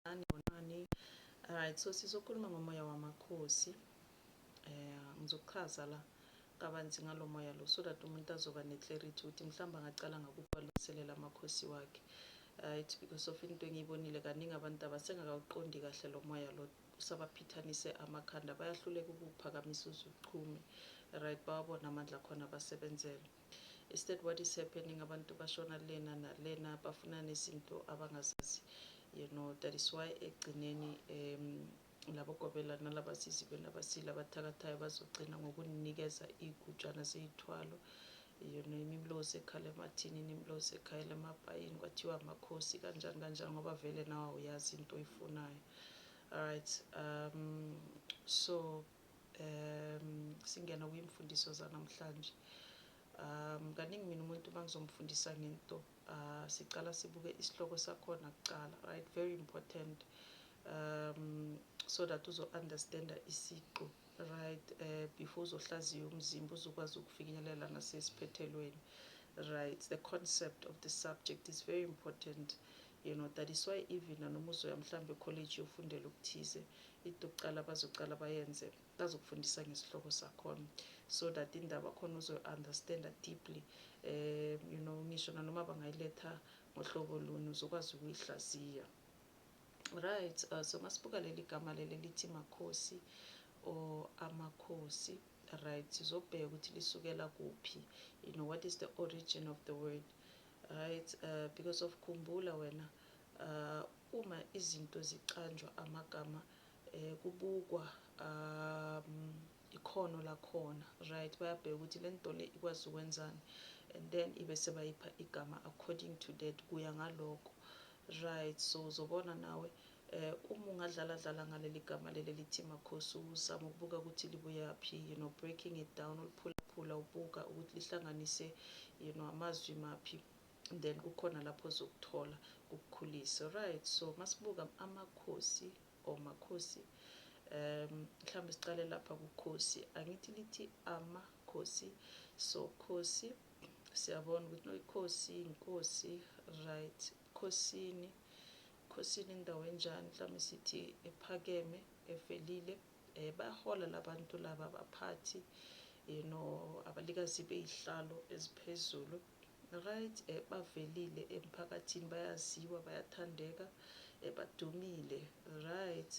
Sanibonani, bonani. Alright, so sizokhuluma ngomoya wamakhosi. Eh ngizokuchaza la kabanzi ngalo moya lo so that umuntu azoba neclarity ukuthi mhlawumbe angacala ngakubalungiselela amakhosi wakhe. Right, because of into engiyibonile kaningi abantu abasengakawuqondi kahle lo moya lo usabaphithanise amakhanda bayahluleka ukuphakamisa uzuchume. Right, bawabona amandla khona basebenzele. Is that what is happening abantu bashona lena nalena bafuna nezinto abangazazi you know that is why ekugcineni um labo gobela nalaba sisi bena basile abathakathayo bazogcina ngokunikeza igujana zeyithwalo you know imimlozi ekhala emathini inimlozi ekhala emapayini kwathiwa amakhosi kanjani kanjani ngoba vele nawe uyazi into oyifunayo alright um so um singena kwimfundiso zanamhlanje um kaningi mina umuntu uma ngizomfundisa ngento uh, sicala sibuke isihloko sakhona kucala right very important um so that uzo-understanda isiqu right uh, before uzohlaziya umzimba uzokwazi ukufinyelela nasesiphethelweni right the concept of the subject is very important You know that is why even nanoma uzoya mhlawumbe ekholeji yofundela okuthize into yokuqala bazoqala bayenze bazokufundisa ngesihloko sakhona so that indaba khona uzoyi-understanda deeply um you know ngisho nanoma bangayiletha ngohlobo luni uzokwazi ukuyihlaziya right uh, so masibuka leli gama leli lithi makhosi or amakhosi right sizobheka ukuthi lisukela kuphi you know what is the origin of the word Right uh, because of khumbula wena uh, uma izinto zicanjwa amagama eh, kubukwa um, ikhono lakhona right bayabheka ukuthi le nto le ikwazi ukwenzani and then ibe sebayipha igama according to that kuya ngaloko right so uzobona nawe Eh uma ungadlala dlala ngaleli gama leli elithi Makhosi uzama ukubuka ukuthi libuyaphi you know breaking it down uliphulaphula ubuka ukuthi lihlanganise you know amazwi maphi then kukhona lapho zokuthola kukukhulise right so masibuka amakhosi or makhosi um mhlawumbe siqale lapha kukhosi angithi lithi amakhosi so khosi siyabona ukuthi no ikhosi inkosi right khosini Ebukhosini indawo enjani mhlawumbe sithi ephakeme evelile eh bayahola labantu laba abaphathi you know abalikazi beyihlalo eziphezulu right eh bavelile emphakathini bayaziwa bayathandeka eh badumile right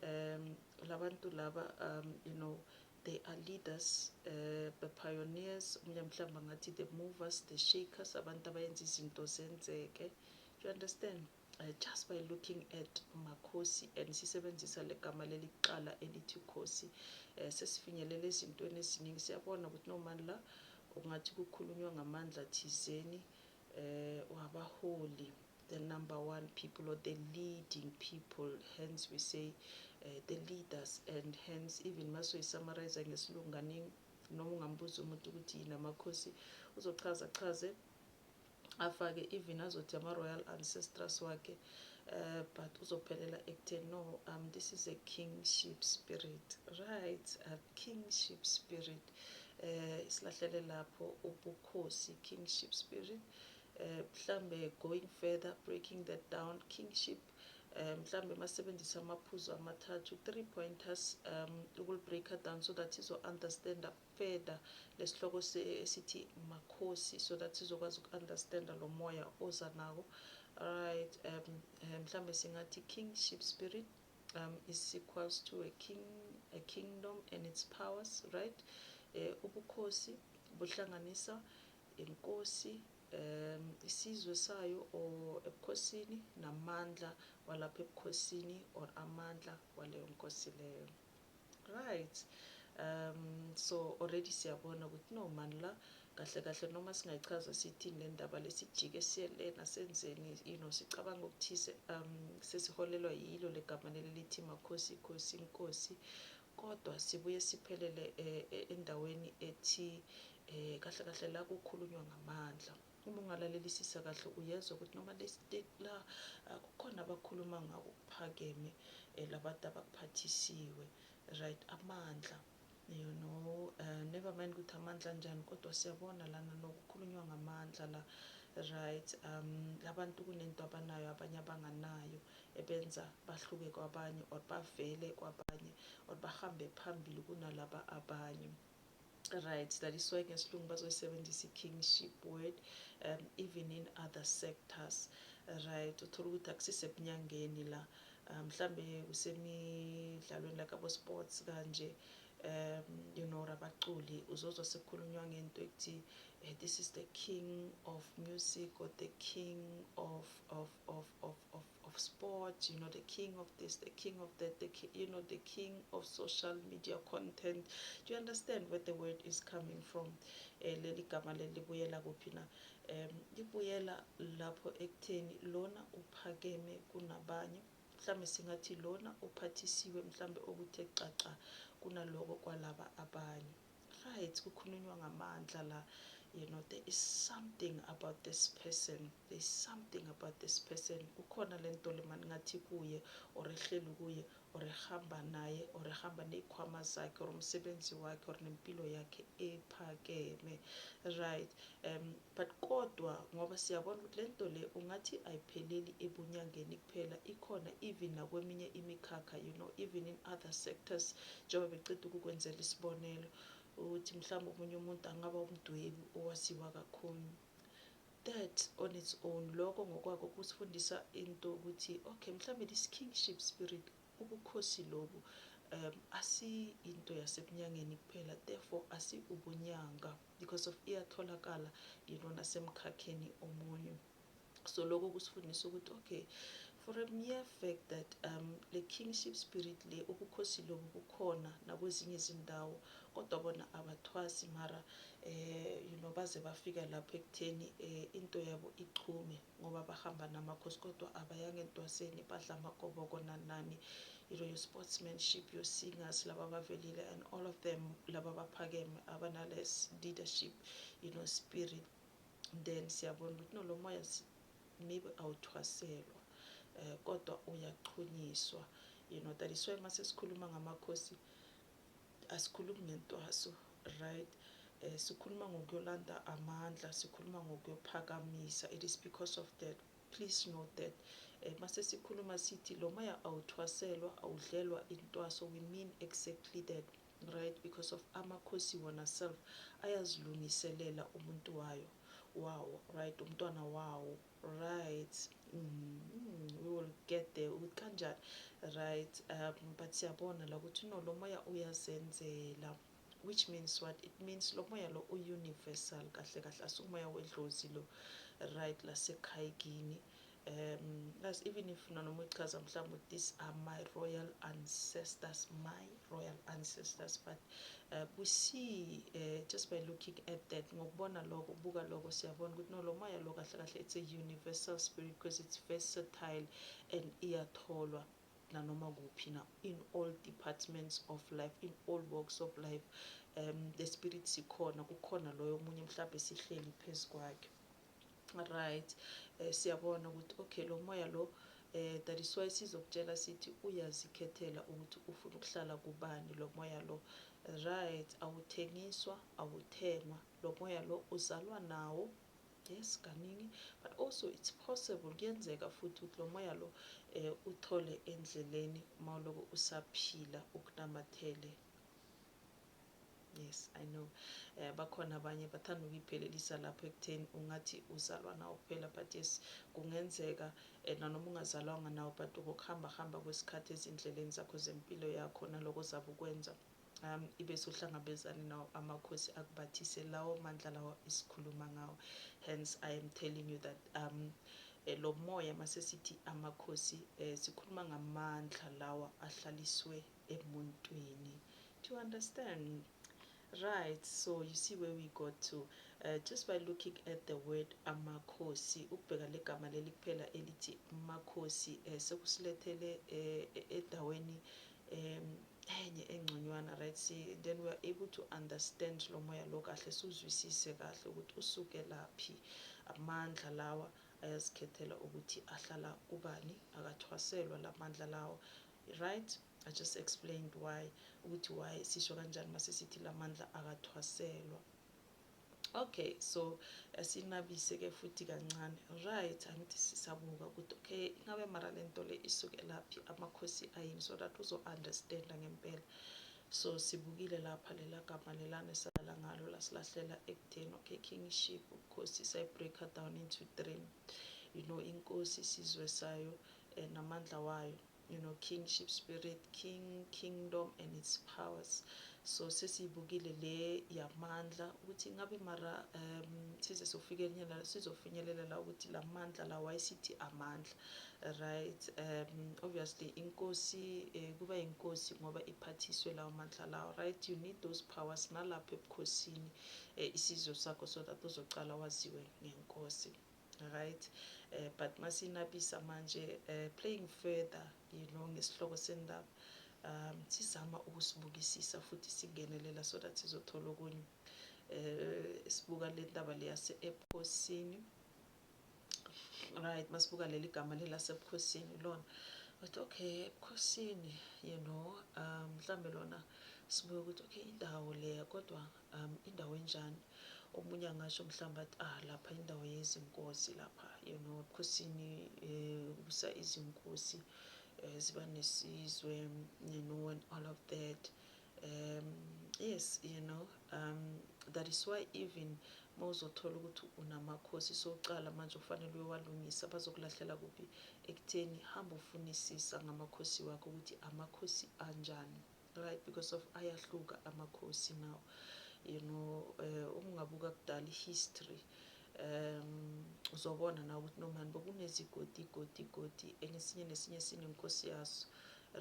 um labantu laba um you know they are leaders uh, the pioneers omunye mhlawumbe angathi the movers the shakers abantu abayenza izinto zenzeke Do you understand? Uh, just by looking at makhosi and sisebenzisa legama leli kuqala elithi khosi uh, sesifinyelela ezintweni eziningi siyabona ukuthi nomani la ungathi kukhulunywa ngamandla thizeni uh, wabaholi the number one people or the leading people hence we say uh, the leaders and hence even masoyisamarayisa ngesilunganingi noma ungambuza umuntu ukuthi yini amakhosi uzochaza chaze afake even azothi ama-royal ancestors wakhe uh, but uzophelela ekutheni no um this is a kingship spirit right a kingship spirit uh, isilahlele lapho ubukhosi kingship spirit uh, mhlambe going further breaking that down kingship um mhlambe masebenzisa amaphuzu amathathu three pointers um ukuli-breaker down so that izo-understanda further lesihloko esithi makhosi so that sizokwazi uku understand lo moya oza nawo right um eh, mhlambe singathi kingship spirit um is equals to a king a kingdom and its powers right eh ubukhosi buhlanganisa inkosi um isizwe sayo or ebukhosini namandla walapha ebukhosini or amandla waleyo nkosi leyo Right um so already siyabona ukuthi no mani la kahle kahle noma singayichaza sithini le ndaba lesijike siyelena senzeni you know sicabanga okuthize um sesiholelwa yilo legama leli lithi makhosi khosi inkosi kodwa sibuye siphelele eh, eh, endaweni ethi eh, kahle kahle la kukhulunywa ngamandla Uma ungalalelisisa kahle uyezwa ukuthi noma lesiteki la ah, kukhona abakhuluma ngako kuphakeme eh, labantu abakuphathisiwe right amandla you know uh, never mind ukuthi amandla njani kodwa siyabona lana nokukhulunywa ngamandla la right um labantu kunento abanayo abanye abanganayo ebenza bahluke kwabanye or bavele kwabanye or bahambe phambili kunalaba abanye Right, that is why ngesilungu bazoyisebenzisa i-kingship word um, even in other sectors right uthola ukuthi akusisebunyangeni la um, mhlambe kusemidlalweni like abo-sports kanje um you know rabaculi uzozwa sekukhulunywa ngento ekuthi eh, this is the king of music or the king of, of, of, of, of of sport, you know, the king of this, the king of that, the ki- you know, the king of social media content. Do you understand where the word is coming from? Eh, leli gama leli libuyela kuphi na? Em, libuyela lapho ekutheni lona uphakeme kunabanye. Mhlambe singathi lona uphathisiwe mhlambe okuthe xaxa kunaloko kwalaba abanye. Right kukhulunywa ngamandla la you know there is something about this person there is something about this person kukhona lento lemani ngathi kuye or ehleli kuye or ehamba naye or ehamba nezikhwama zakhe or umsebenzi wakhe or nempilo yakhe ephakeme right um But kodwa ngoba siyabona ukuthi lento le ungathi ayipheleli ebunyangeni kuphela ikhona even nakweminye imikhakha you know even in other sectors njengoba beceda ukukwenzela isibonelo ukuthi mhlawumbe omunye umuntu angaba umdwebi owaziwa kakhulu that on its own lokho ngokwako kusifundisa into ukuthi okay mhlawumbe this kingship spirit ubukhosi lobu um asi into yasebunyangeni kuphela therefore asi ubunyanga because of iyatholakala you know nasemkhakheni omunye so lokho kusifundisa ukuthi okay for a mere fact that um le kingship spirit le ubukhosi lobu bukhona nakwezinye izindawo kodwa bona abathwasi mara eh you know baze bafika lapho ekutheni eh into yabo ichume ngoba bahamba namakhosi kodwa abayanga entwaseni badla amagoboko nanani into yosportsmanship yosingers laba abavelile and all of them laba abaphakeme abanales leadership you know spirit then siyabona ukuthi no lo moya maybe awuthwaselwa um kodwa uyachunyiswa you know that is why uma sesikhuluma ngamakhosi asikhulumi ngentwaso right eh sikhuluma ngokuyolanda amandla sikhuluma ngokuyophakamisa it is because of that please note that eh mase sikhuluma sithi lo moya awuthwaselwa awudlelwa intwaso we mean exactly that right because of amakhosi wona self ayazilungiselela umuntu wayo wawo right umntwana wawo right mm, we will get there ukuthi kanjani right um but siyabona la ukuthi no lo moya uyazenzela which means what it means lo moya lo u-universal kahle kahle asukumoya wedlozi lo right lasekhaya kini um plus even if nanoma uchaza mhlawumbe ukuthi these are my royal ancestors mine royal ancestors but uh, we see uh, just by looking at that ngokubona lokho buka lokho siyabona ukuthi no lo moya lo kahle kahle it's a universal spirit because it's versatile and iyatholwa nanoma kuphi na in all departments of life in all walks of life um the spirit sikhona kukhona loyo omunye mhlawumbe sihleli phezu kwakhe right eh, siyabona ukuthi okay lo moya lo eh that is why sizokutshela sithi uyazikhethela ukuthi ufuna ukuhlala kubani lo moya lo right awuthengiswa awuthengwa lo moya lo uzalwa nawo yes kaningi but also it's possible kuyenzeka futhi ukuthi lo moya lo eh uthole endleleni mawuloko usaphila ukunamathele Yes, I know. Eh bakhona abanye bathanda ukuyiphelelisa lapho ekutheni ungathi uzalwa nawo kuphela but yes kungenzeka eh, nanoma ungazalwanga nawo but ngokuhamba hamba kwesikhathi ezindleleni zakho zempilo yakho naloko zabe ukwenza um ibe sohlangabezane nawo amakhosi akubathise lawo mandla lawo esikhuluma ngawo hence i am telling you that um eh, lo moya masesithi amakhosi eh, sikhuluma ngamandla lawa ahlaliswe emuntwini do you understand right so you see where we got to uh, just by looking at the word amakhosi ukubheka legama leli kuphela elithi makhosi uh, eh, sekusilethele eh, eh, endaweni um enye engconywana right see then we are able to understand lo moya lo kahle siwuzwisise kahle ukuthi usuke laphi amandla lawa ayazikhethela ukuthi ahlala kubani akathwaselwa la mandla lawo Right I just explained why ukuthi why sisho kanjani mase sithi lamandla akathwaselwa okay so asinabise ke futhi kancane right angithi sisabuka ukuthi okay ingabe mara lento le isuke laphi amakhosi ayini so that uzo understand ngempela so sibukile lapha lela gama lelane sala ngalo lasilahlela ekutheni okay kingship ubukhosi sayibreaker down into three you know inkosi isizwe sayo namandla wayo you know kingship spirit king kingdom and its powers so sesiyibukile le yamandla ukuthi ngabe mara um size sofikelnyela sizofinyelela la ukuthi la mandla la wayesithi amandla right um obviously inkosi eh, kuba inkosi ngoba iphathiswe lawo mandla lawo right you need those powers nalapho ebukhosini eh, isizwe sakho so that uzocala waziwe ngenkosi Right eh, but masinabisa manje eh, playing further you know ngesihloko sendaba um sizama ukusibukisisa futhi singenelela so that sizothola okunye eh sibuka le ndaba leyase ebukhosini right masibuka leli gama lelasebukhosini lona but okay ebukhosini you know um mhlambe lona sibuye ukuthi okay indawo leya kodwa Um indawo enjani omunye angasho mhlawumbe athi ah lapha indawo yezinkosi lapha you know ebukhosini eh, kubusa izinkosi eh, ziba nesizwe you know and all of that um yes you know um that is why even mawuzothola ukuthi unamakhosi socala manje ufanele uyowalungisa bazokulahlela kuphi ekutheni hamba ufunisisa ngamakhosi wakho ukuthi amakhosi anjani right because of ayahluka amakhosi now you know eh, uma ungabuka kudala i-history um uzobona na ukuthi nomani bokunezigodi igodi igodi engesinye nesinye sinenkosi yaso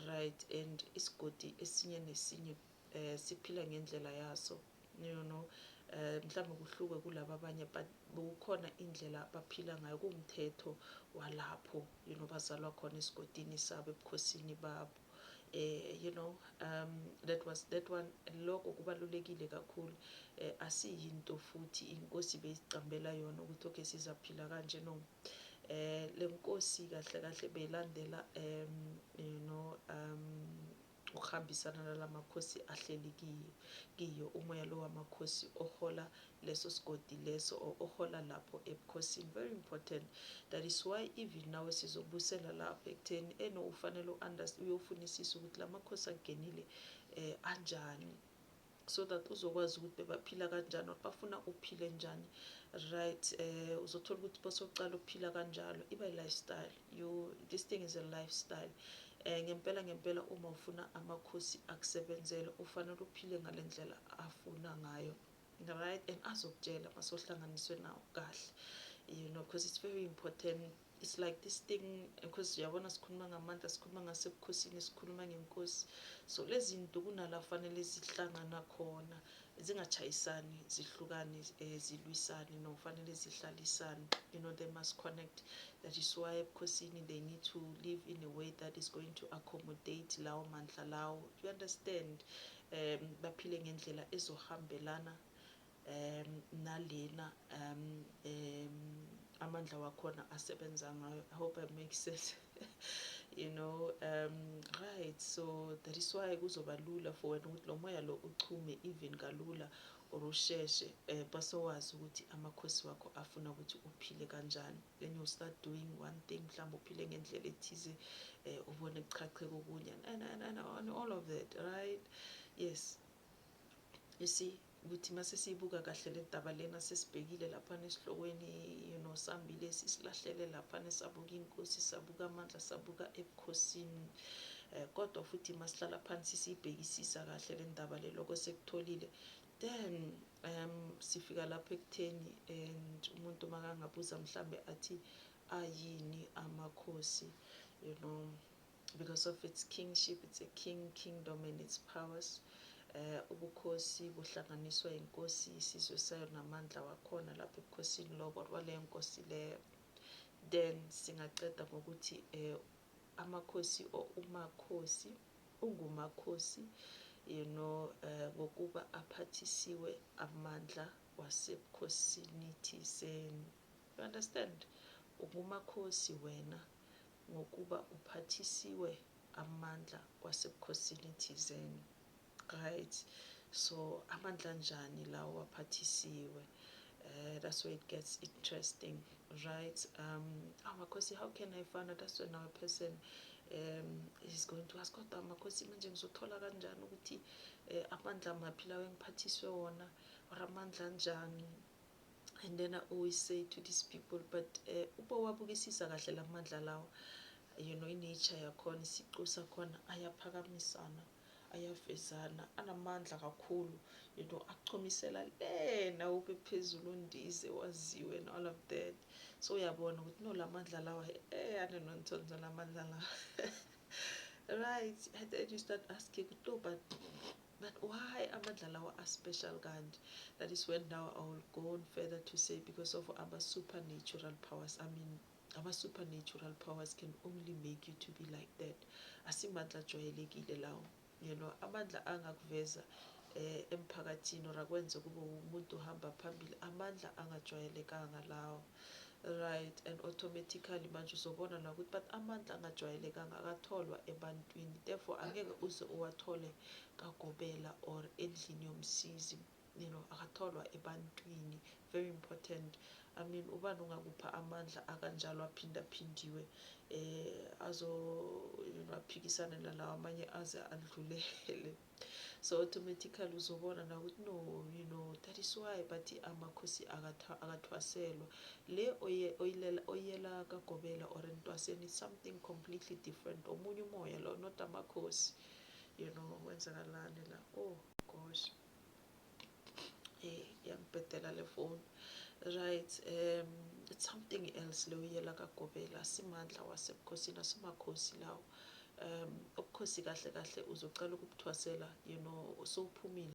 right and isigodi esinye nesinye um siphila ngendlela yaso you know um mhlawumbe kuhluke kulaba abanye but bekukhona indlela abaphila ngayo kuwumthetho walapho you know bazalwa khona esigodini sabo ebukhosini babo you know um that was that one lokho kubalulekile kakhulu asiyinto futhi inkosi beyiqambela yona ukuthi okay sizaphila kanje no eh lenkosi kahle kahle belandela um you know um ukuhambisana nalamakhosi ahleli kiyo umoya lo wamakhosi ohola leso sigodi leso or ohola lapho ebukhosini very important that is why even nawe sizobusela lapho ekutheni eno eh, ufanele u-understand uyofunisisa ukuthi la makhosi akungenile eh anjani so that uzokwazi ukuthi bebaphila kanjani or bafuna uphile njani right eh uzothola ukuthi bosokuqala ukuphila kanjalo iba lifestyle you this thing is a lifestyle eh ngempela ngempela uma ufuna amakhosi akusebenzele ufanele uphile ngalendlela afuna ngayo right and azokutshela masohlanganiswe nawo kahle you know because it's very important it's like this thing because uyabona sikhuluma ngamandla sikhuluma ngasebukhosini sikhuluma ngenkosi so lezi zinto kunala fanele zihlangana khona zingachayisani zihlukane eh, zilwisane no fanele zihlalisane you know they must connect that is why ebukhosini they need to live in a way that is going to accommodate lawo mandla lawo you understand um baphile ngendlela ezohambelana um nalena um um amandla wakhona asebenza ngayo i hope i make sense you know um right so that is why kuzoba lula for wena ukuthi lo moya lo uchume even kalula or usheshe um eh, basowazi ukuthi amakhosi wakho afuna ukuthi uphile kanjani then you start doing one thing mhlawumbe uphile ngendlela ethize um ubone kuchacheka okunye and, and, and, and all of that right yes you see ukuthi mase siyibuka kahle le daba lena sesibhekile laphana esihlokweni you know sambile sisilahlele laphana sabuka inkosi sabuka amandla sabuka ebukhosini um kodwa futhi masihlala phansi siyibhekisisa kahle le ndaba le loko sekutholile Then um sifika lapho ekutheni and umuntu makangabuza mhlambe athi ayini amakhosi you know because of its kingship it's a king kingdom and its powers eh ubukhosi buhlanganiswa inkosi isizwe sayo namandla wakhona lapho ebukhosini lobo wale nkosi leyo then singaqeda ngokuthi eh amakhosi or umakhosi ungumakhosi you know eh, ngokuba aphathisiwe amandla wasebukhosini thizeni you understand ungumakhosi wena ngokuba uphathisiwe amandla wasebukhosini thizeni right so amandla njani lawo waphathisiwe Uh, that's where it gets interesting right um amakhosi how can i find out that's when our person um is going to ask kodwa makhosi manje ngizothola kanjani ukuthi um amandla maphi lawo engiphathiswe wona or amandla anjani and then i always say to these people but um uba wabukisisa kahle la mandla lawo you know inature yakhona isiqu sakhona ayaphakamisana ayavezana anamandla kakhulu you know akuchomisela lena ube phezulu undize waziwe and all of that so uyabona ukuthi no lamandla lawa eh ane nonthonzo lamandla lawa right and then you start asking ukuthi no but but why amandla lawa are special kanje that is when now i will go on further to say because of our supernatural powers i mean Ama supernatural powers can only make you to be like that. Asimandla ajwayelekile lawo. You know, amandla angakuveza eh emphakathini or akwenze kube umuntu uhamba phambili. Amandla angajwayelekanga lawo. Right, and automatically manje uzobona la ukuthi but amandla angajwayelekanga akatholwa ebantwini. Therefore angeke uze uwathole kagobela or endlini yomsizi. you know akatholwa ebantwini very important i mean ubani ongakupha amandla akanjalo aphindaphindiwe eh azo you know aphikisane nalawa amanye aze adlulele so automatically uzobona na ukuthi no you know that is why bathi amakhosi akathwaselwa le oyilela oyela kagobela or entwaseni something completely different omunye umoya lo not amakhosi you know wenzakalani la oh gosh yangibhedela le foni right um it's something else le uyela kagobela simandla wasebukhosini asimakhosi lawo um ubukhosi kahle kahle uzocela ukubuthwasela you know usuphumile